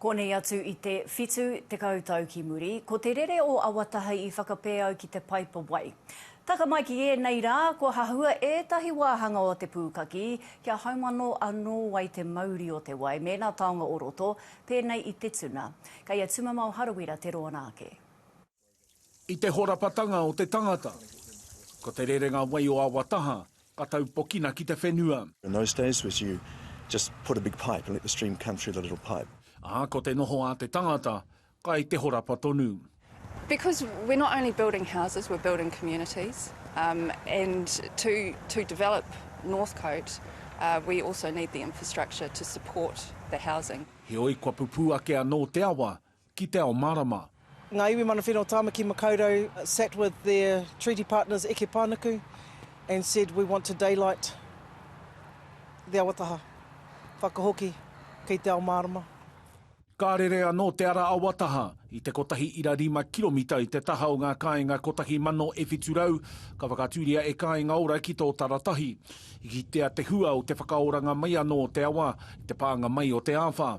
Konei atu i te whitu tekau tau ki muri, ko te rere o Awatahi i whakapēau ki te paipa wai. Taka mai ki ēnei rā, kua hahua ētahi wāhanga o te pūkaki kia haumano anō ai te mauri o te wai mēnā taonga o roto, pēnei i te tuna. Kei a Tumamao Harawira te rōna ake. I te horapatanga o te tangata, ko te rerenga wai o awa taha ka taupokina ki te whenua. In those days was you just put a big pipe and let the stream come through the little pipe. Ā, ko te noho a te tangata, kai te horapa tonu. Because we're not only building houses, we're building communities and to to develop Northcote we also need the infrastructure to support the housing. Heoi kua pupū ake anō te awa ki te ao marama. Ngā iwi mana whenua o Tāmaki Makaurau sat with their treaty partners Eke Pānuku and said we want to daylight the awataha, whakahoki kei te ao mārama. Ka rere anō te ara awataha i te kotahi ira rima kiromita i te taha o ngā kāinga kotahi mano e whitu rau, ka whakatūria e Kāinga Ora ki tō taratahi. I kitea te hua o te whakaoranga mai anō o te awa i te pānga mai o te āwha.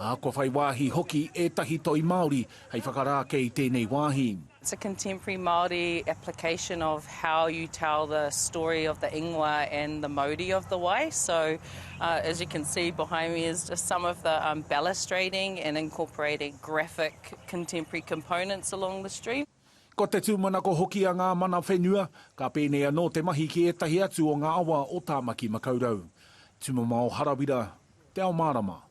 ā, kua whai wāhi hoki ētahi toi Māori hei whakarā kē i tēnei wāhi. It's a contemporary Māori application of how you tell the story of the ingoa and the mauri of the wai. So, as you can see behind me is just some of the balustrading and incorporating graphic contemporary components along the stream. Ko te tūmanako hoki a ngā mana whenua, ka pēnei anō te mahi ki ētahi atu o ngā awa o Tāmaki Makaurau. Tumamao Harawira, Te Ao Mārama.